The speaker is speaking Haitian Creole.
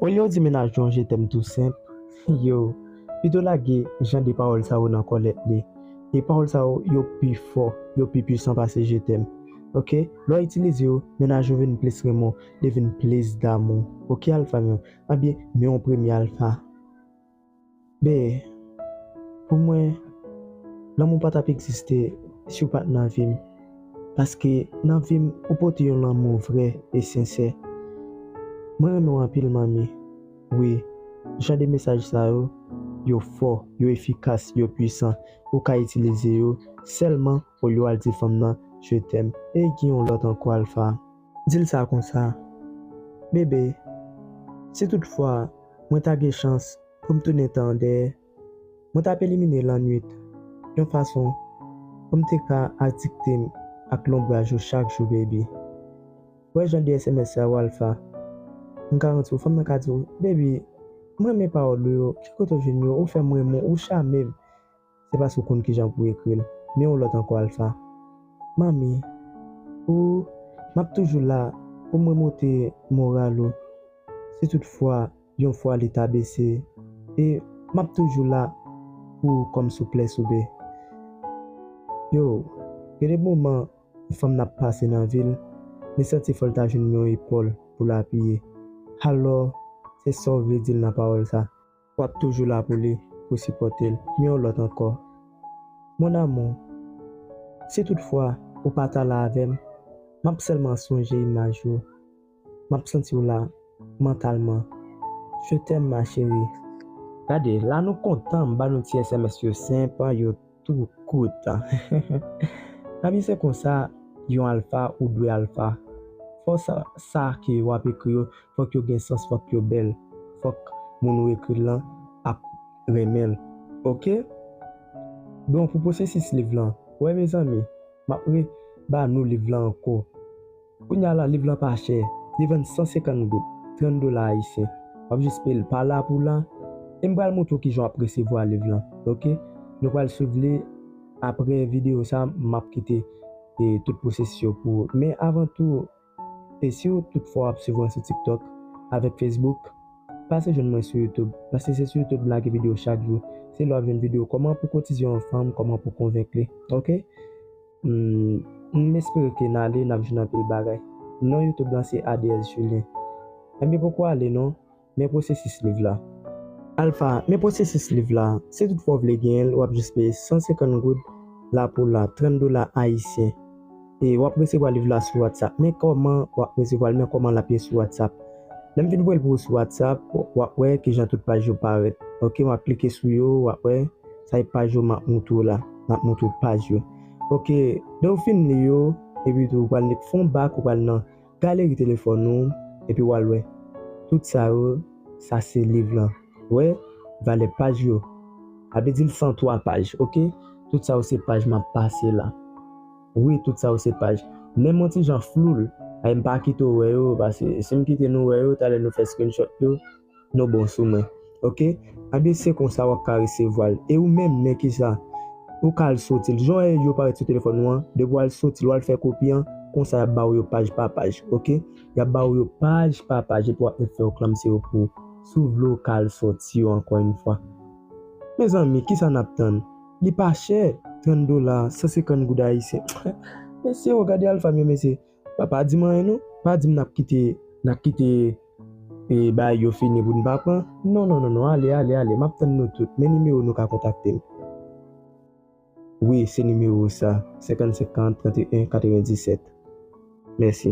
Olye w di mennaj nou an je t'aime tou senp, yo pito lage jan de pawòl sa yo nan kòlèt li. E pawòl sa yo, yo pi fò, yo pi pwisan pase je t'aime. Ok, lè w itilize yo, mennaj ou vin plis renmen w, li vin plis damou w. Ok alfa m yo, anbyen men yon premye alfa. Bee, pou mwen, lanmou pa t ap egziste si w pa t nan vi m. Paske nan vi m ou pote yon lanmou vrè e sensè. Mwen renmen w anpil manmi. Wi, jan de mesaj sa yo, yo fò, yo efikas, yo pwisan. Ou ka itilize yo sèlman olye w al di fanm nan je t'aime. Ey gen yon lòt ankò Alpha. Di l sa konsa, Bebe, si toutfwa mwen ta gen chans pou m tounen tan an dèyè, mwen t ap elimine lannuit yon fason pou m te ka adikte m ak lonbraj ou chak jou, Baby. Wè jan de sms sa yo Alpha. M garanti w fanm nan ka di w, Baby, m renmen pawòl ou yo, ki kote w jwenn yo, ou fè m renmen w, ou chame m. Se paske w konn kijan pou w ekri l. Men yon lòt ankò Alpha. Manmi, Ou, m ap toujou la pou m remonte moral ou si tout fwa yon fwa li ta bese e m ap toujou la pou ou kòm souple soube. Yo, gen de moman yon fanm nan pase nan vi l, li santi fò l ta jwenn yon epòl pou l apiye. Alò, se sa w vle di l nan pawòl sa? Wap toujou la pou li pou sipòte l men yon lòt ankò Mon amour si tout fwa ou pa ta la avè m map sèlman sonje imaj ou map santi w la mantalman Je t'aime ma chérie. Gade la nou kontan m ba nou ti sms yo senp yo. Tou kout. Lavi se konsa, yon alfa ou dwe alfa. Fò sa sa ke w ap ekri yo, fòk yo gen sans, fòk yo bèl, fòk moun ou ekri l lan ap renmen l. Ok? Bon pou pwosesis liv lan. Wè mezanmi, m ap re ba nou liv lan ankò. Kounye a la liv lan pa chè, li vann 150 goud, 30 dola ayisyen. W ap jis peye l pa la pou la. E m pral montre w kijan w ap resevwa liv lan ok. Nou pral swiv li apre videyo sa m ap kite tout pwosesis yo pou ou. Men avan tou e si w tout fwa w ap swiv mwen sou tiktok avèk fesbouk pase jwenn mwen sou youtube paske se sou youtube m lage videyo chak jou. Se la w ap jwenn videyo kòman pou w kotize yon fanm, kòman pou w konvenk li ok. Humm m espere ke n ale nap jwenn anpil bagay. Non youtube lan se Adees Julien. Enbyen poko ale non, men pwosesis liv la. Alpha, men pwosesis liv la, si tout fwa w vle genyen l wap jis peye 150 goud la pou la, 30 dola ayisyen. E wap resevwa liv la sou whatsapp. Men kòman wap resevwa l, men kòman lap ye sou whatsapp. Lèm fin voye l pou ou sou whatsapp, wap wè kijan tout paj yo parèt. Ok wap klike sou yo, wap wè. Sa e paj yo map moutre w la. Map moutre w paj yo. Ok, lè ou fin li yo, epi tou ou pral met fon bak ou pral nan galeri telefòn ou, epi wal wè. Tout sa yo, sa se liv lan. Ou wè, valè paj yo. Sa vle di l 103 paj. Ok, tout sa yo se paj map pase la. Wi, tout sa yo se paj. Menm yon ti jan flou l. Sa e mpa kite w wè yo, paske si m kite nou wè yo, talè nou fè screenshot yo. Nou bon sou mwen ok. Anbyen se konsa wap ka resevwal e ou menm men kisa Pou ka al sotil jan e yo parèt sou telefòn ou an depi wal sotil wal fè kopi an konsa yap ba ou yo paj pa paj ok yap ba ou yo paj pa paj epi wap met fè oklamse yo pou ou si ou vle ou ka al sòti yo ankò yn fwa mezanmi kisa nap tann li pa chè 30 dola 150 goud ayisyen mesye o gade alpha m yo mesye. Pa pa dim anyen non, pa dim nap kite nap kite e bagay yo fini pou nou pa pran non non non ale ale ale map tann nou tout men nimewo nou ka kontaktem wi se nimewo sa 55 40 31 97 mèsi.